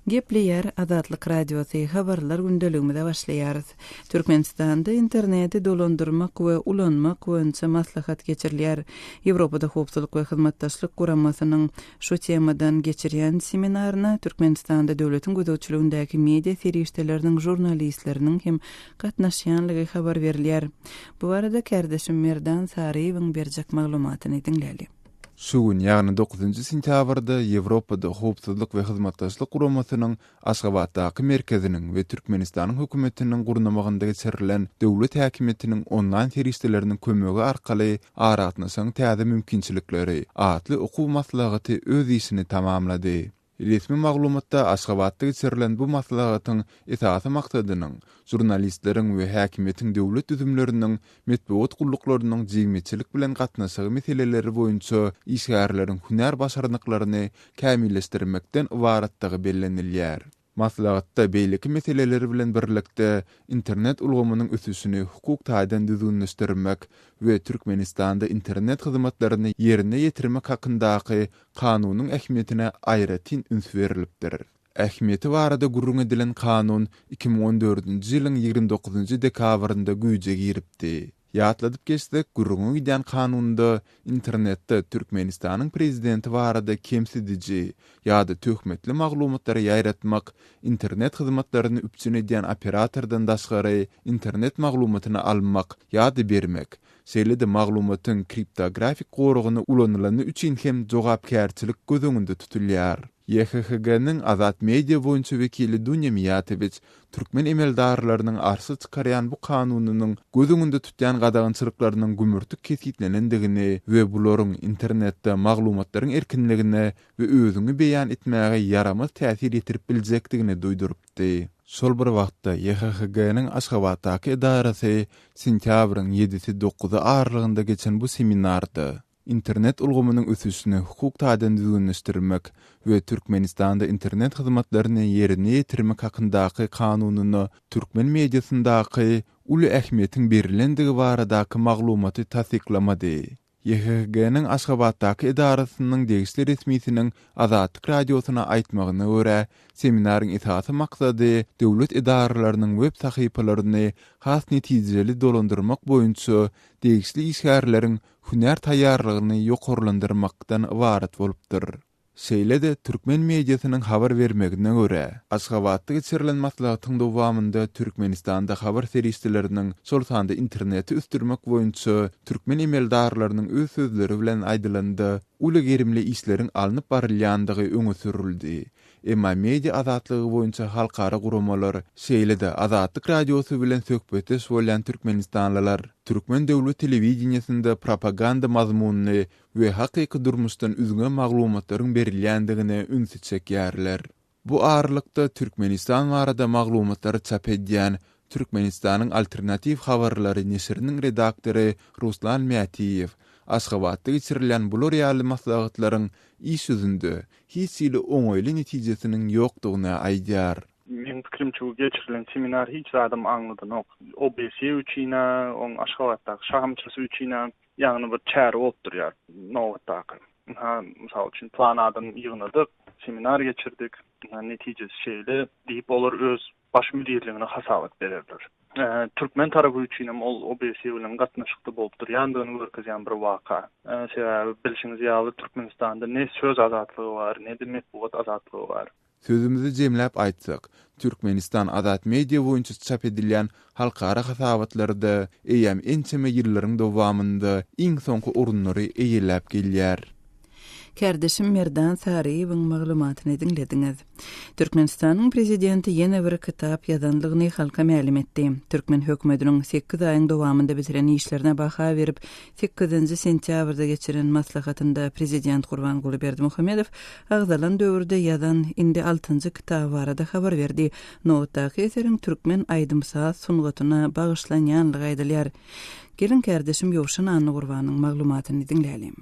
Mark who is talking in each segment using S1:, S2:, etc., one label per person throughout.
S1: Gepleýär Azatlyk Radiosy, Habarlar gündeligimize başlaýarys. Türkmenistanda interneti dolandyrmak we ulanmak boýunça maslahat geçirilýär. Ýewropada Howpsuzlyk we Hyzmatdaşlyk Guramasynyň şu temadan geçirýän seminaryna Türkmenistanda döwletiň gözegçiligindäki media serişdeleriniň žurnalistleriniň hem gatnaşýanlygy habar berilýär. Bu barada kärdeşim Merdan Saryýewiň berjek maglumatyny diňläli. Şu gün, ýagny
S2: dokuzynjy sentýabrda Ýewropada Howpsuzlyk we Hyzmatdaşlyk Guramasynyň Aşgabatdaky merkeziniň we Türkmenistanyň Hökümetiniň gurnamagynda geçirilen döwlet häkimiýetiniň onlaýn serişdeleriniň kömegi arkaly Aragatnaşygyň täze mümkinçilikleri atly okuw maslahaty öz işini tamamlady. Resmi maglumatda Aşgabatda geçirilen bu maslahatyň esasy maksadynyň žurnalistleriň we häkimiýetiň döwlet düzümleriniň metbugat gulluklarynyň jigmeçilik bilen gatnaşygy meseleleri boýunça işgärleriň hünär başarnyklaryny kämilleşdirmekden ybaratdygy bellenilýär. Maslahatda beýleki meseleler bilen birlikde internet ulgamynyň ösüşini hukuk taýdan düzgünleşdirmek we Türkmenistanda internet hyzmatlaryny ýerine ýetirmek hakyndaky Kanunyň ähmiýetine aýratyn üns berlipdir. Ähmiýeti barada gürrüň edilen kanun iki müň on dördünji ýylyň ýigrimi dokuzynjy dekabrynda güýje giripdi. Ýatladyp geçsek, gürrüňi gidýän kanunda internetde Türkmenistanyň prezidenti barada kemsidiji ýa-da töhmetli maglumatlary ýaýratmak internet hyzmatlaryny üpjün edýän operatordan daşgary internet maglumatyny almak ýa-da bermek Şeýle-de maglumatyň kriptografik goragyny ulanylany üçin hem jogapkärçilik göz öňünde tutulýar. YHHG-nyň Azat Media boýunça wekili Dunýa Miýatowiç türkmen emeldarlarynyň arşa çykarýan bu kanunynyň göz öňünde tutýan gadagançylyklarynyň gümürtik kesgitlenendigini we bularyň internetde maglumatlaryň erkinligine we özüňi beýan etmäge ýaramaz täsir ýetirip biljekdigini duýduryp etdi. Şol bir wagtda, YHHG-niň Aşgabatdaky edarasy sentýabryň ýedisi, dokuzy aralygynda geçen bu seminarda Internet ulgamynyň ösüşini hukuk taýdan düzgünleşdirmek we Türkmenistanda internet hyzmatlaryny ýerine ýetirmek hakyndaky kanunyna türkmen mediasyndaky uly ähmiýetiň berilendigi baradaky maglumaty tassyklamady. YHG-nyň Aşgabatdaky edarasynyň degişli resmisiniň Azatlyk Radiosyna aýtmagyna görä, seminaryň esasy maksady döwlet edaralarynyň web sahypalaryny has netijeli dolandyrmak boýunça degişli işgärleriň hünär taýýarlygyny ýokarlandyrmakdan ybarat bolupdyr. Şeýle-de, türkmen mediasynyň habar bermegine görä, Aşgabatda geçirilen maslahatyň dowamynda Türkmenistanda habar serişdeleriniň, şol sanda interneti ösdürmek boýunça türkmen emeldarlarynyň öz sözleri bilen aýdylanda, uly gerimli işleriň alnyp barylýandygy öňe sürüldi. Emma media azatlygy boýunça halkara guramalar, şeýle-de Azatlyk Radiosy bilen söhbetdeş bolýan türkmenistanlylar türkmen döwlet telewideniýesinde propaganda mazmunly we hakyky durmuşdan üzňe maglumatlaryň berilýändigine ünsi çekýärler. Bu aralykda, Türkmenistan barada maglumatlary çap edýän Türkmenistanyň alternatiw habarlary neşiriniň redaktory Ruslan Mätiýew Aşgabatda geçirilýän bular ýaly maslahatlaryň iş ýüzünde hiç hili oňaýly netijesiniň ýokdugyny aýdýar. Meň pikirimçe,
S3: bu geçirilen seminar hiç zadam aňladanok. OBSE üçin-ä, oň Aşgabatdaky şahamçasy üçin-ä, Ýagny bir çäre bolup durýar nobatdaky. Ynha, mysal üçin, plan adamy ýygnadyk, seminar geçirdik, ynha netijesi şeýle diýip, olar öz baş müdirligine hasabat bererler. Türkmen tarapy üçin hem ol OBSE bilen gatnaşykly bolup durýandygyny görkezýän bir waka. Sebäbi, bilşiňiz ýaly, Türkmenistanda ne söz azatlygy bar, ne-de metbugat azatlygy bar. Sözümizi jemläp
S2: aýtsak, Türkmenistan azat media boýunça çap edilýän halkara hasabatlarda eýýäm ençeme ýyllaryň dowamynda iň soňky orunlary eýeläp gelýär. Kärdeşim
S1: Merdan Saryýewiň maglumatyny diňlediňiz. Türkmenistanyň prezidenti ýene bir kitap ýazandygyny halka mälim etdi. Türkmen hökümetiniň sekiz aýyň dowamynda bitiren işlerine baha berip, Sekizinji sentýabrda geçiren maslahatynda prezident Gurbanguly Berdimuhamedow agzalan döwürde ýazan indi altynjy kitaby barada habar berdi. Nobatdaky eseriň türkmen aýdym-saz sungatyna bagyşlanýanlygy aýdylýar. Geliň, kärdeşim Ýowşan Annagurbanyň maglumatyny diňläliň.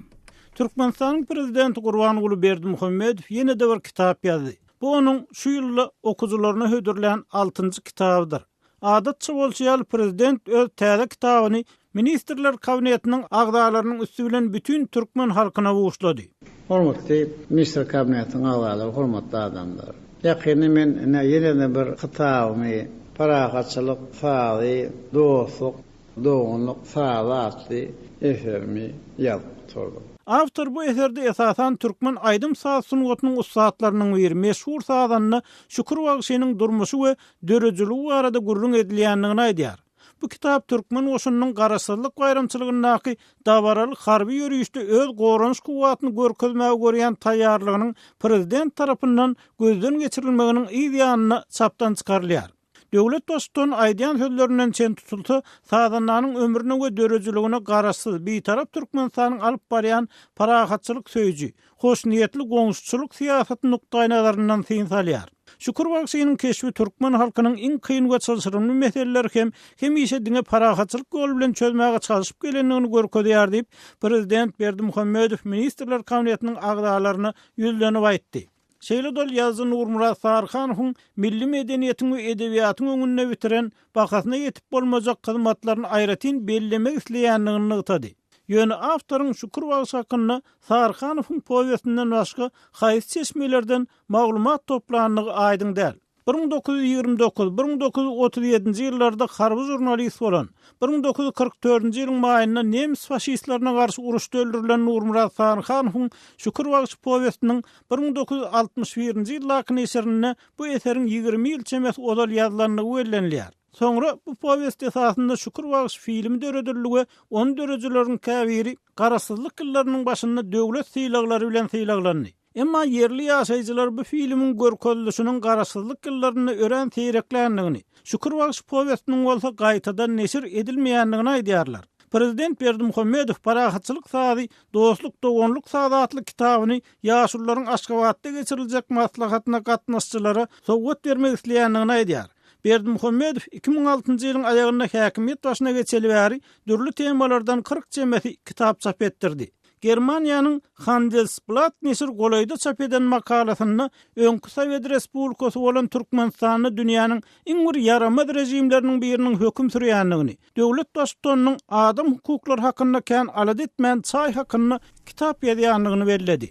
S1: Türkmenistanyň
S4: prezidenti Gurbanguly Berdimuhamedow ýene-de bir kitap ýazdy. Bu onuň şu ýylda okyjylaryna hödürlän altynjy kitabydyr. Adatça bolşy ýaly, prezident öz täze kitabyny Ministrler Kabinetiniň agzalarynyň üsti bilen bütin türkmen halkyna buşlady.
S5: Hormatly Ministr
S4: Kabinetiniň
S5: agzalary, hormatly
S4: adamlar!
S5: Ýakynda men ine ýene-de bir kitabymy Parahatçylyk sazy, dostluk, doganlyk sazy atly eserimi ýazyp gutardym. Awtor bu
S4: eserde esasan türkmen aýdym-saz sungatynyň ussatlarynyň biri, meşhur sazanda Şükür bagşynyň durmuşy we döredijiligi barada gürrüň edilýändigini aýdýar. Bu kitap türkmen goşunynyň garaşsyzlyk baýramçylygyndaky dabaraly harby ýörişde öz goranyş kuwwatyny görkezmäge görýän taýýarlygynyň prezident tarapyndan gözden geçirilmeginiň yz ýanyna çapdan çykarylýar. Döwlet Baştutanyň aýdýan sözlerinden çen tutulsa, sazandanyň ömrüne we döredijiligine Garaşsyz, Bitarap Türkmenistanyň alyp barýan parahatçylyk söýüji, hoşniýetli goňşuçylyk syýasaty nukdaýnazaryndan syn salýar. Şükür bagşynyň keşbi türkmen halkynyň iň kyn we çylşyrymly meseleleri hem hemişe diňe parahatçylyk ýoly bilen çözmäge çalşyp gelendigini görkezýär diýip, prezident Berdimuhamedow Ministrler Kabinetiniň agzalaryna ýüzlenip aýtdy. Şeýle-de ol ýazyjy Nurmyrat Saryhanowyň milli medeniýetiň we edebiýatyň öňünde bitiren bahasyna ýetip bolmajak hyzmatlaryny aýratyn bellemek isleýändigini nygtady. Ýöne awtoryň Şükür bagşy hakynda Saryhanowyň powestinden başga haýsy çeşmelerden maglumat toplandygy aýdyň däl. Bir müň dokuz ýüz ýigrimi dokuz, bir müň dokuz ýüz otuz ýedinji ýyllarda harby žurnalist bolan, bir müň dokuz ýüz kyrk dördünji ýylyň maýynda nemis faşistlerine garşy uruşda öldürilen Nurmyrat Saryhanowyň Şükür bagşy powestiniň bir müň dokuz ýüz altmyş birinji ýyldaky neşirinde bu eseriň ýigrimi ýyl çemesi ozal ýazylandygy bellenilýär. Soňra bu powest esasynda Şükür bagşy filmi döredildi we ony döredijileriň käbiri Garaşsyzlyk ýyllarynyň başynda döwlet sylaglary bilen sylaglandy. Emma ýerli ýaşaýjylar bu filmiň görkezilişiniň Garaşsyzlyk ýyllarynda örän seýrekländigini, Şükür bagşy powestiniň bolsa gaýtadan neşir edilmeýändigini aýdýarlar. Prezident Berdimuhamedow Parahatçylyk sazy, dostluk, doganlyk sazy atly kitabyny ýaşulularyň Aşgabatda geçiriljek maslahatyna gatnaşyjylara sowgat bermek isleýändigini aýdýar. Berdimuhamedow iki müň altynjy ýylyň aýagynda häkimiýet başyna geçeli bäri dürli temalardan kyrk çemesi kitap çap etdirdi. Germaniýanyň Handelsblatt neşir golaýda çap eden makalasynda öňki Sowet Respublikasy bolan Türkmenistanda dünýäniň iň bir ýaramaz režimleriniň biriniň höküm sürýändigini, Döwlet Baştutanynyň adam hukuklary hakynda kän alada etmän çaý hakynda kitap ýazýandygyny belledi.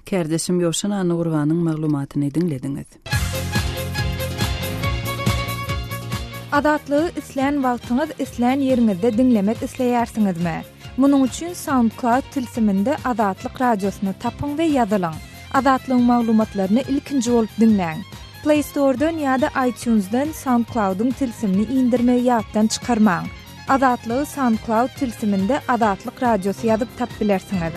S4: Kärdeşim
S1: Ýowşan Annagurbanyň maglumatyny diňlediňiz.
S6: Azatlygy islän wagtyňyz islän ýeriňizde diňlemek isleýärsiňizmi? Munuň üçin SoundCloud tilsiminde Azatlyk Radiosyny tapyň we ýazylyň. Azatlygyň maglumatlaryny ilkinji bolup diňläň. Play Store-dan ýa-da iTunes-dan SoundCloud-yň tilsimini indirmegi ýatdan çykarmaň. Azatlygy SoundCloud tilsiminde Azatlyk Radiosy ýazyp tap bilersiňiz.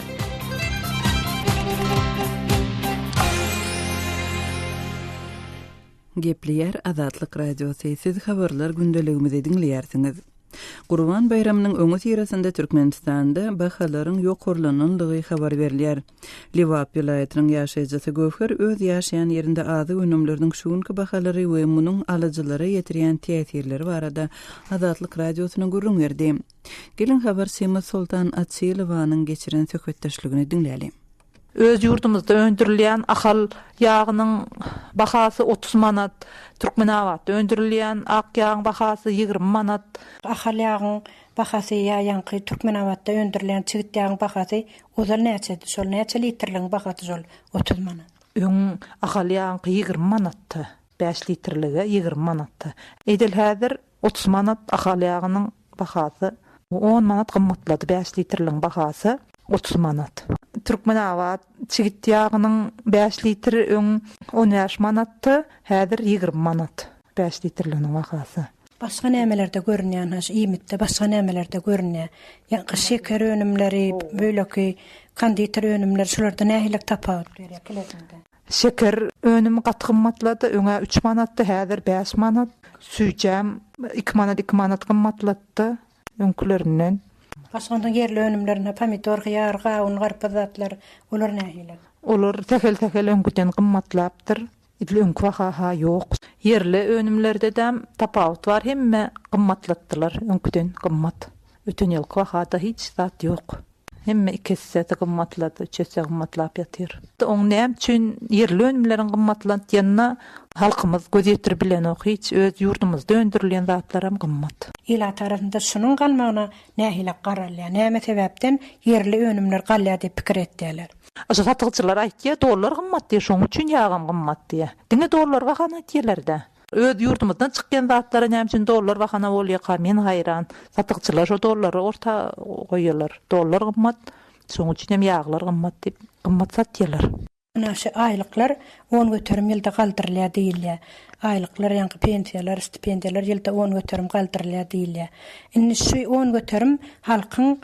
S1: Gepleýär Azatlyk Radiosy, siz habarlar gündeligimizi diňleýärsiňiz. Gurban baýramynyň öňüsyrasynda Türkmenistanda bahalaryň ýokarlanandygy habar berilýär. Lebap welaýatynyň ýaşaýjysy Göwher öz ýaşaýan ýerinde azyk önümleriniň şu günki bahalary we munuň alyjylara ýetirýän täsirleri barada Azatlyk Radiosyna gürrüň berdi. Geliň habarçymyz Soltan Açylowanyň geçiren söhbetdeşligini diňläli. Öz
S7: ýurdumyzda öndürilýän Ahal ýagynyň bahasy otuz manat, Türkmenabatda öndürilýän ak ýagyň bahasy ýigrimi manat. Ahal ýagyň
S8: bahasy ýa ýaňky Türkmenabatda öndürilýän çigit ýagyň bahasy ozal näçedi, şol näçe litrligiň bahasy şol otuz manat. Öň Ahal
S7: ýagyňky ýigrimi manatdy, bäş litrlige ýigrimi manatdy. Edil häzir Otuz manat Ahal ýagynyň bahasy. On manat gymmatlady Bäş litrligiň bahasy. Otuz manat. Türkmenabat çigit ýagynyň bäş litri öň on bäş manatdy, häzir ýigrimi manat bäş litrliginiň bahasy. Başga nämelerde
S8: görünýänha şu iýmitde başga nämelerde görünýä ýa şeker önümleri beýleki konditer önümleri şularda nähili tapawut görýä Şeker
S7: önümi gaty gymmatlady. Öňä üç manatdy, häzir bäş manat. Süýjem iki manat, iki manat gymmatlatdy öňkülerinden. Aşgabadyň
S8: ýerli önümlerine, pomidor, hyýar, gawun, garpyz zatlar, olar nähili? Olar sähel-sähel
S7: öňküden gymmatlapdyr. Edil öňki baha-ha ýok. Ýerli önümlerde-däm tapawut bar, hemme gymmatlatdylar, öňküden gymmat. Öten ýylky bahada hiç zat ýok. Hemme iki hissesi gymmatlady, üçese gymmatlap ýatyr. Oň näme üçin ýerli önümleriň gymmatlant ýanyna halkymyz göz ýetirip bilenok hiç, öz ýurdumyzda öndürilýän zatlaram gymmat. Ilat arasynda
S8: şunuň galmagyna nähili garalýar, näme sebäpden ýerli önümler galýar diýip pikir etýärler. Şu satygyjylar
S7: aýtýar dollar gymmat diýip şoň üçin ýagam gymmat diýip. Diňe dollar bahana etýäler-dä. Öz ýurdumyzdan çykýan zatlara näme üçin dollar bahana bolýaka men haýran. Satykçylar şo dollary orta goýýalar. Dollar gymmat, şoň üçin hem ýaglar gymmat diýip gymmat satýalar. Mundan şu
S8: aýlyklar on göterim ýylda galdyrylýar diýilýär. Aýlyklar ýaňky pensiýalar, stipendiýalar ýylda on göterim galdyrylýar diýilýär. Indi şu on göterim halkyň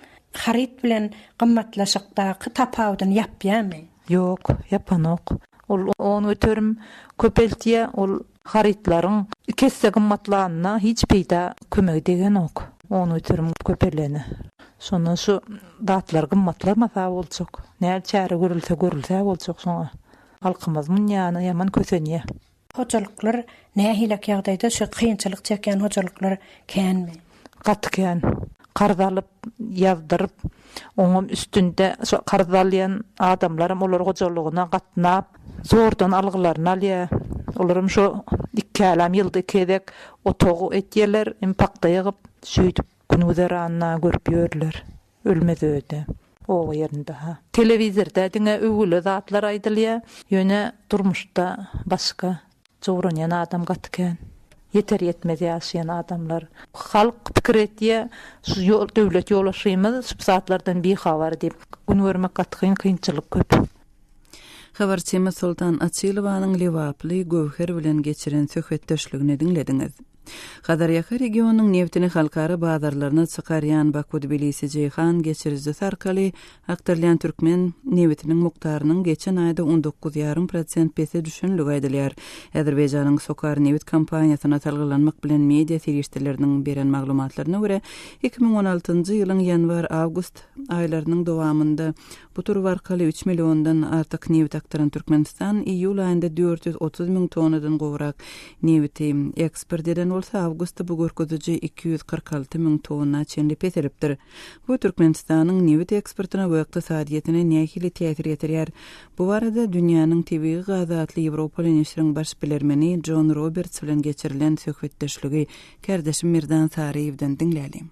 S8: haryt bilen gymmatlaşykdaky tapawudyny ýapýamy? Ýok,
S7: ýapanok. Ol on göterim köpeltýä, ol harytlaryň iki esse gymmatlanyna hiç peýda kömegi degenok, on göterim köpelene. Şondan şu zatlar gymmatlamasa boljak. Näl çäre görülse görülse boljak şoňa. Halkymyz munýana ýaman kösenýä. Hojalyklar
S8: nähilek ýagdaýda şu kynçylyk çekýän hojalyklar känmi. Gaty kän.
S7: Karz alyp, ýazdyryp, oňam üstünde şo karz alýan adamlaram olar hojalygyna gatnap, zordan algylaryny alýa. Olaram şo iki älem ýylda iki gezek otagy etýeler, hem pagta ýygyp, şeýdip. Gün-güzeranyna görüp ýörler. Ölmez öýde. Oba ýerinde-ha. Telewizorda diňe öwgüli zatlar aýdylýa, ýöne durmuşda başga. Jowranýan adam gaty kän. Ýeter-ýetmez ýaşaýan adamlar. Halk pikir etýä, şu döwlet ýolbaşçymyz şüp zatlardan bihabar diýip. Gün görmek gaty kyn, kynçylyk köp.
S1: Habarçymyz Soltan Açylowanyň lebaply Göwher bilen geçiren söhbetdeşligini diňlediňiz. Hazarýaka regionynyň nebtini halkara bazarlaryna çykarýan Baku-Tbilisi-Jeýhan geçirijisi arkaly akdyrylýan türkmen nebitiniň mukdarynyň geçen aýda on dokuz ýarym prosent pese düşenligi aýdylýar. Azerbaýjanyň Sokar nebit kompaniýasyna salgylanmak bilen media serişdeleriniň beren maglumatlaryna görä, iki müň on altynjy ýylyň ýanwar-awgust aýlarynyň dowamynda Bu turba arkaly üç milliondan artyk nebit akdyran Türkmenistan iýul aýynda dört ýüz otuz müň tonnadan gowrak nebiti eksport eden bolsa, awgustda bu görkeziji iki ýüz kyrk alty müň tonna çenli peselipdir. Bu Türkmenistanyň nebit eksportyna we ykdysadyýetine nähili täsir ýetirýär? Bu barada Dünýäniň tebigy gazy atly ýewropaly neşiriň baş bilermeni Jon Roberts bilen geçirilen söhbetdeşligi kärdeşim Merdan Saryýewden diňläliň.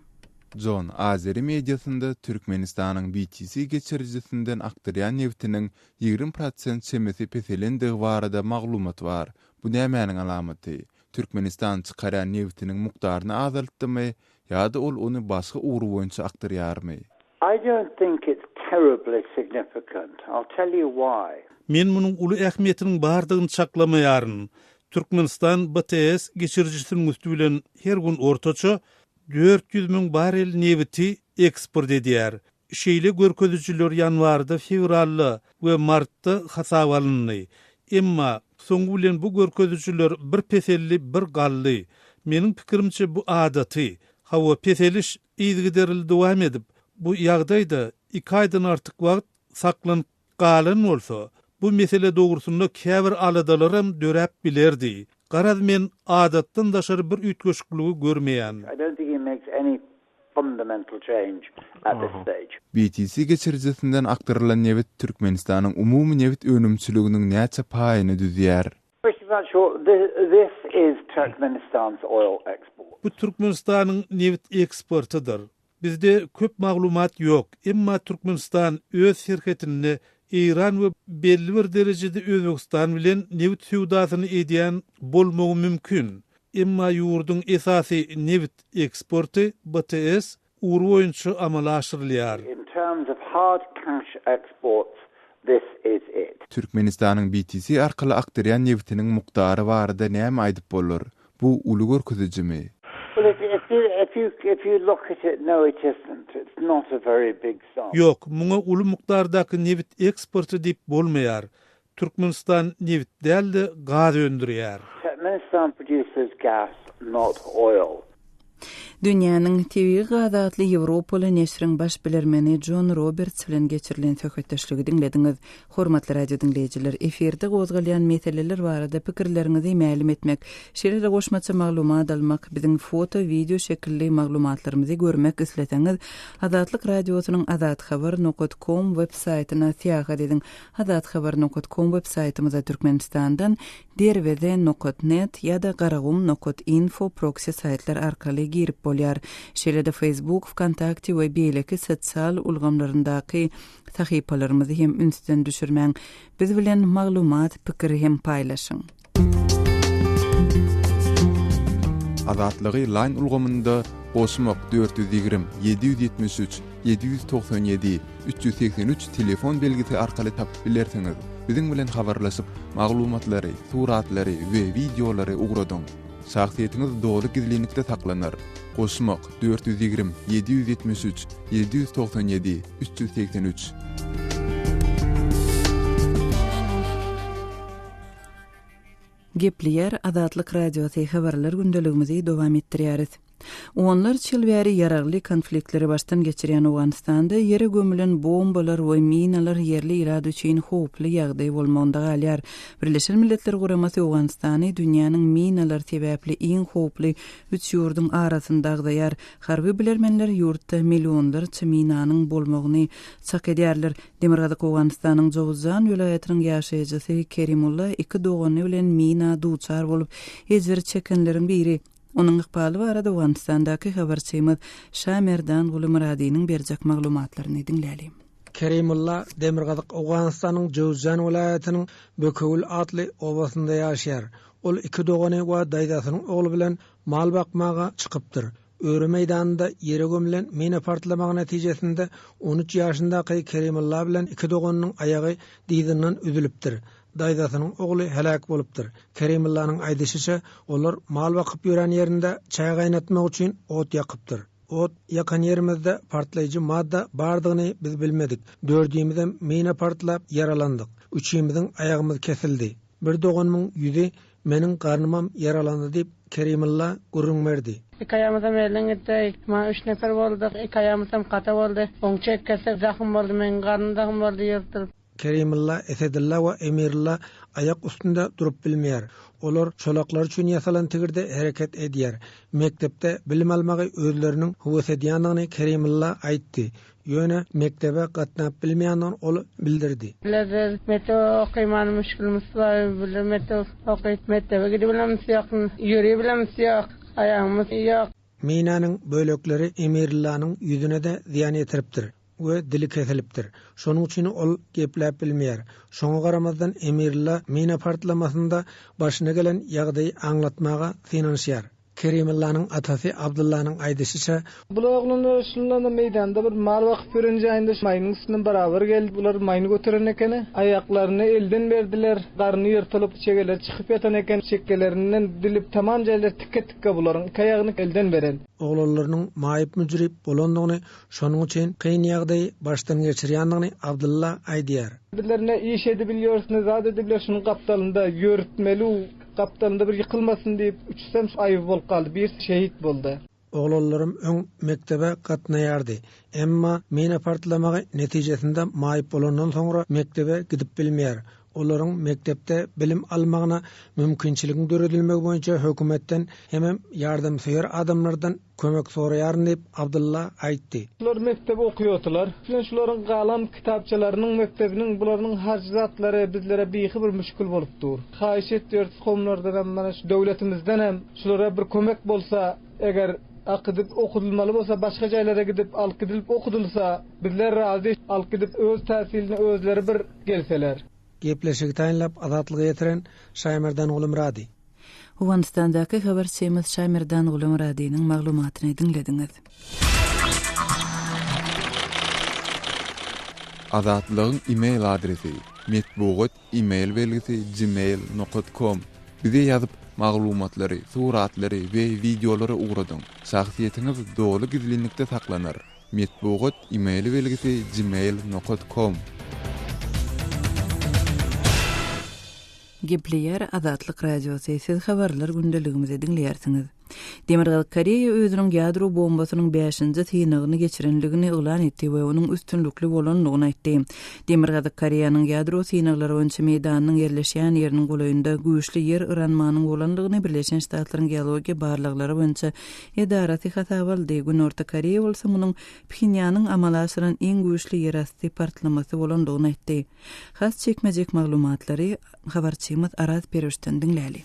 S1: Jon,
S2: Azeri mediasynda Türkmenistanyň BTC geçirijisinden akdyrýan nebtiniň ýigrimi prosent çemesi peselendigi barada maglumat bar. Bu nämäniň alamaty? Türkmenistan çykarýan nebtiniň mukdaryny azaltdymy ýa-da ol ony başga ugur boýunça akdyrýarmy? I don't
S9: think it's terribly significant. I'll tell you why. Men munuň uly
S4: ähmiýetiniň bardygyny çaklamaýaryn. Türkmenistan BTS geçirijisiniň üsti bilen her gün ortaça dört ýüz müň barrel nebiti eksport edýär. Şeýle görkezijiler ýanwarda, fewralda we martda hasaba alyndy. Emma, soňy bilen bu görkezijiler bir peseldi, bir galdy. Meniň pikirimçe, bu adaty. Hawa, peseliş yzygiderli dowam edip, bu ýagdaýda iki aýdan artyk wagt saklanyp. Galan bolsa, bu mesele dogrusynda käbir aladalaram döräp bilerdi. Garaz, men adatdan daşary bir üýtgeşikligi görmeýän.
S9: BTC geçirijisinden
S2: akdyrylan nebit Türkmenistanyň umumy nebit önümçiliginiň näçe paýyny düzýär?
S9: Bu
S4: Türkmenistanyň nebit eksportydyr. Bizde köp maglumat ýok, emma Türkmenistan öz serhetinde Eýran we belli bir derejede Özbegistan bilen nebit söwdasyny edýän bolmagy mümkin. Emma ýurduň esasy nebit eksporty BTS ugry boýunça amala aşyrylýar.
S9: Türkmenistanyň BTS
S2: arkaly akdyrýan nebitiniň mukdary barada näme aýdyp bolar? Bu uly görkezijimi?
S9: Ýok, muňa uly
S4: mukdardaky nebit eksporty diýip bolmaýar. Türkmenistan nebit däl-de, gaz öndürýär.
S1: Dünýäniň tebigy gazy atly ýewropaly neşriň baş bilermeni Jon Roberts bilen geçirilen söhbetdeşligi diňlediňiz. Hormatly radiodiňleýjiler, efirde gozgalýan meseleler barada pikirleriňizi mälim etmek, şeýle-de goşmaça maglumat almak, biziň foto, wideo şekilli maglumatlarymyzy görmek isleseňiz, Azatlyk Radiosynyň Azathabar nokat kom web saýtyna syýahat ediň. Azathabar nokat kom web saýtymyza Türkmenistandan, Derweze nokat net ýa-da Garagum nokat info proksi saýtlar arkaly girip bolýar. Şeýle-de Facebook, Wkontakte we beýleki sosial ulgamlaryndaky sahypalarymyzy hem ünsden düşürmäň. Biz bilen maglumat, pikir hem paýlaşyň.
S2: Azatlygy line ulgamynda goşmak dört ýüz ýigrimi, ýedi ýüz ýetmiş üç. Ýedi ýüz togsan ýedi, üç ýüz segsen üç telefon belgisi arkaly tapyp bilersiňiz. Biziň bilen habarlaşyp, maglumatlary, suratlary we wideolary ugradyň. Şahsyýetiňiz doly gizlinlikde saklanar. Goşmak, dört ýüz ýigrimi, ýedi ýüz ýetmiş üç, ýedi ýüz togsan ýedi, üç ýüz segsen üç.
S1: Gepleýär Azatlyk Radiosy, Habarlar gündeligimizi dowam etdirýäris. Onlarça ýyl bäri ýaragly konfliktleri başdan geçirýän Owganystanda ýere gömülen bombalar we minalar ýerli ilat üçin howply ýagdaý bolmagynda galýar. Birleşen Milletler Guramasy Owganystany dünýäniň minalar sebäpli iň howply üç ýurduň arasynda agzaýar. Harby bilermenler ýurtda millionlarça minanyň bolmagyny çak edýärler. Demirgazyk Owganystanyň Jowuzjan welaýatynyň ýaşaýjysy Kerimulla iki dogany bilen mina duçar bolup ejir çekenleriň biri. Onuň ykbaly barada Owganystandaky habarçymyz Şamerdangulu Myradynyň berjek maglumatlaryny diňläliň. Kerimulla
S10: Demirgazyk Owganystanyň Jowzjan welaýatynyň Bökewül atly obasynda ýaşaýar. Ol iki dogany we daýzasynyň ogly bilen mal bakmaga çykypdyr. Öri meýdanynda ýere gömülen mina partlamagy netijesinde on üç ýaşyndaky Kerimulla bilen iki doganynyň aýagy dyzyndan üzülipdir. daýzasynyň ogly heläk bolupdyr. Kerimyllanyň aýdyşyça, olar mal bakyp ýören ýerinde çaý gaýnatmak üçin ot ýakypdyr. Ot ýakan ýerimizde partlaýjy madda bardygyny biz bilmedik. Dördimizem mina partlap ýaralandyk. Üçimiziň aýagymyz kesildi. Bir doganymyň ýüzi, meniň garnymam ýaralandy diýip, Kerimylla gürrüň berdi. Iki aýagymyzam elden
S11: gitdi. Maňa üç neper bolduk. Iki aýagymyzam kata boldy. Oňa çekgesi zahym boldy. Meniň garnym zahym boldy ýyrtylyp. Kerimylla,
S10: Esedylla we Emirilla aýak üstünde durup bilmeýär. Olar çolaklar üçin ýasalan tigirde hereket edýär. Mekdepde bilim almagy özleriniň höwes edýändigini Kerimylla aýtdy. Ýöne mekdebe gatnap bilmeýändigini ol bildirdi. Bile biz mekdebe
S11: okyman müşgilimiz bar. Bile mekdebe okyp mekdebe gidibilemis ýok. Ýöribilemis ýok. Aýagymyz ýok. Minäniň
S10: bölekleri Emirillanyň ýüzüne-de zyýan ýetiripdir. we dili kesilipdir. Şonuň üçin ol gepläp bilmeýär. Şoňa garamazdan Emirlyla mina partlamasynda başyna gelen ýagdaýy aňlatmaga synanyşýar. Kerimyllanyň atasy Abdyllanyň aýdyşyça. Bular oglanlar
S12: şundanda meýdanda bir mal bakyp ýören jaýynda maýynyň üstünden barabar geldi. Bular maýyny göteren ekeni. Aýaklaryny elden berdiler. Garny ýyrtylyp, çegeleri çykyp ýatan eken. Çekgelerinden dilip tamam jaýlar tikke-tikke bularyň. Iki aýagyny elden beren. Oglanlarynyň
S10: maýyp-müjrüp bolandygyny, Şonuň üçin kyn ýagdaýy başdan geçirýändigini Abdylla aýdýar. Biler ne iş
S12: edibilýors ne zat edibiler şunuň gapdalynda ýörütmeliu gapdalynda bir ýykylmasyn diýip uçsam aýby bolup galdy birsi şehit boldy. Oglanlarym öň
S10: mekdebe gatnaýardy, emma mina partlamagy netijesinde maýyp bolandan soňra mekdebe gidip bilmeýär. olaryň mekdepde bilim almagyna mümkinçiligiň döredilmegi boýunça hökümetden hemem ýardamsöýer adamlardan kömek soraýaryn diýip, Abdylla aýtdy. Bular mekdep
S12: okuýardylar. Bilen şularyň galam kitapçalarynyň mekdebiniň bularynyň harjy zatlary bizlere bihi bir müşgil bolup dur. Haýyş etýäris komlardanam mana şu döwletimizdenem şulara bir kömek bolsa eger akydyp okudylmaly bolsa başga jaýlara gidip alyp gidilip okudylsa bizler razy alyp gidip öz täsilini özleri bir gelseler. Gepleşigi
S10: taýynlap, Azatlyga ýetiren Şaýmerdan Gulumyrady. Owganystandaky
S1: habarçymyz Şaýmerdan Gulumyradynyň maglumatyny diňlediňiz.
S2: Azatlygyň email adresi, Metbugat email belgisi gmail nokat kom Bize ýazyp, maglumatlary, suratlary we wideolary ugradyň. Şahsyýetiňiz doly gizlinlikde saklanar. Metbugat email belgisi gmail nokat kom. Gepleýär Azatlyk Radiosy, Siz habarlar gündeligimizi diňleýärsiňiz.
S1: Demirgazyk Koreýa özüniň ýadro bombasynyň bäşinji synagyny geçirendigini yglan etdi we onuň üstünlikli bolandygyny aýtdy. Demirgazyk Koreýanyň ýadro synaglary boýunça meýdanynyň ýerleşýän ýeriniň golaýynda güýçli ýer yranmanyň bolandygyny Birleşen Ştatlaryň geologiýa barlaglary boýunça edarasy hasaba aldy, Günorta Koreýa bolsa munuň Phinýanyň amala aşyran iň güýçli ýerasty partlamasy bolandygyny aýtdy. Has çekmejek maglumatlary habarçymyz Araz Perwişden diňläli.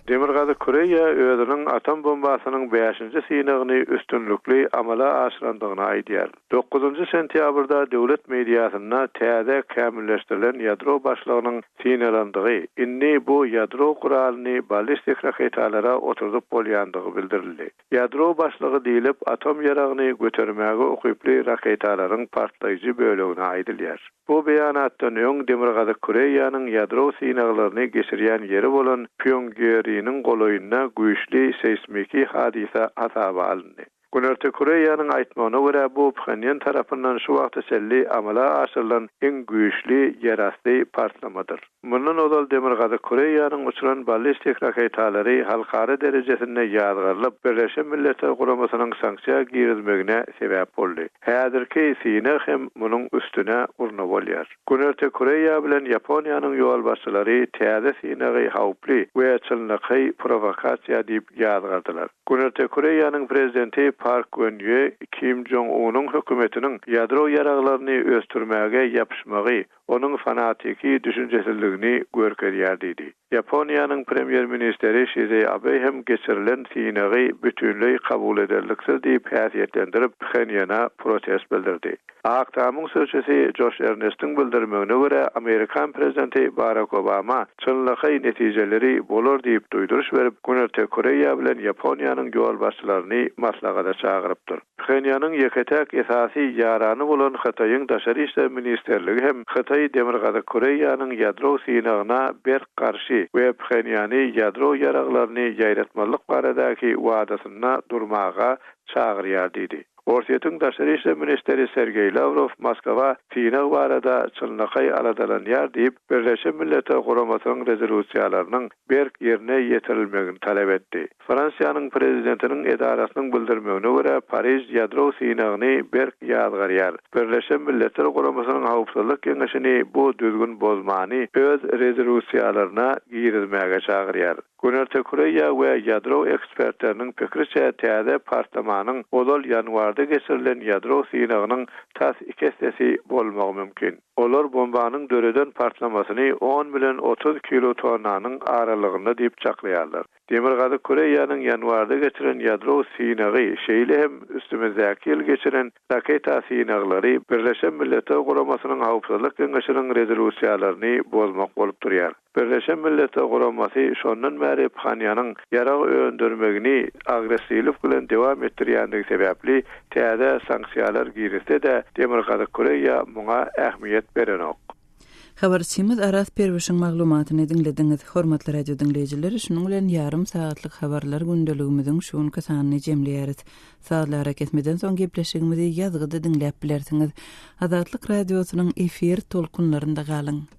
S1: Demirgazyk
S13: Koreýa özüniň atom bombasynyň bäşinji synagyny üstünlikli amala aşyrandygyny aýdýar. Dokuzynjy sentýabrda döwlet mediasynda täze kämilleşdirilen ýadro başlygynyň synalandygy, indi bu ýadro guralyny ballistik raketalara oturdyp bolýandygy bildirildi. Ýadro başlygy diýlip atom ýaragyny götermäge ukyply raketalaryň partlaýjy bölegine aýdylýar. Bu beýanatdan öň Demirgazyk Koreýanyň ýadro synaglaryny geçirýän ýeri bolan Pýongiýeriniň golaýynda güýçli seýsmiki hadysa hasaba alyndy. Günorta Koreýanyň aýtmagyna görä, bu Phenýan tarapyndan şu wagta çenli amala aşyrylan iň güýçli ýerasty partlamadyr. Mundan ozal Demirgazyk Koreýanyň uçuran ballistik raketalary halkara derejesinde ýazgarylyp, Birleşen Milletler Guramasynyň sanksiýa girizmegine sebäp boldy. Häzirki synag hem munuň üstüne urna bolýar. Günorta Koreýa bilen Ýaponiýanyň ýolbaşçylary täze synagy howply we çynlakaý prowokasiýa diýip ýazgardylar. Günorta Koreýanyň prezidenti Park Gön Ýe Kim Jong Unyň hökümetiniň ýadro ýaraglaryny ösdürmäge ýapyşmagy onuň fanatiki düşünjesizligini görkezýär diýdi. Ýaponiýanyň Premýer-ministeri Şize Abe hem geçirilen synagy bütinleý kabul ederliksiz diýip häsiýetlendirip, Phenýana protest bildirdi. Ak tamyň sözçüsi Joş Ernestiň bildirmegine görä, amerikan prezidenti Barak Obama çynlakaý netijeleri bolar diýip duýduryş berip, Günorta Koreýa bilen Ýaponiýanyň ýolbaşçylaryny maslahata çagyrypdyr. Phenýanyň ýeke-täk esasy ýarany bolan Hytaýyň Daşary işler ministrligi hem Hytaý Demirgazyk Koreýanyň ýadro synagyna berk garşy we Phenýany ýadro ýaraglaryny ýaýratmazlyk baradaky wadasynda durmaga çagyrýar diýdi. Orsýetiň Daşary işler ministri Sergeý Lawrow Moskwa synag barada çynlakaý aladalanýar diýip, Birleşen Milletler Guramasynyň rezolýusiýalarynyň berk ýerine ýetirilmegini talap etdi. Fransiýanyň prezidentiniň edarasynyň bildirmegine görä, Pariž ýadro synagyny berk ýazgarýar. Birleşen Milletler Guramasynyň Howpsuzlyk Geňeşini bu düzgün bozmany öz rezolusiýalaryna girizmäge çagyrýar. Günorta Koreýa we ýadro ekspertleriniň pikiriçe, täze partlamanyň ozal ýanwarda geçirilen ýadro synagynyň tas iki essesi bolmagy mümkin. Olar bombanyň döreden partlamasyny on bilen otuz kilotonnanyň aralygynda diýip çaklaýarlar. Demirgazyk Koreýanyň ýanwarda geçiren ýadro synagy, şeýle hem üstümizdäki ýyl geçiren raketa synaglary Birleşen Milletler Guramasynyň Howpsuzlyk Geňeşiniň rezolýusiýalaryny bozmak bolup durýar. Birleşen Milletler Guramasy şondan bäri Phanyanyň ýarag öndürmegini agressiwlik bilen dowam etdirýändigi sebäpli täze sanksiýalar girizse-de, Demirgazyk Koreýa muňa ähmiýet berenok. Habarçymyz
S1: Aras Perwişiň maglumatyny diňlediňiz. Hormatly radio diňleýjiler, şunuň bilen ýarym sagatlyk habarlar gündeligimiziň şu günki sanyny jemleýäris. Sazly arakesmeden soň gepleşigimizi ýazgyda diňläp bilersiňiz. Azatlyk Radiosynyň efir tolkunlarynda galyň!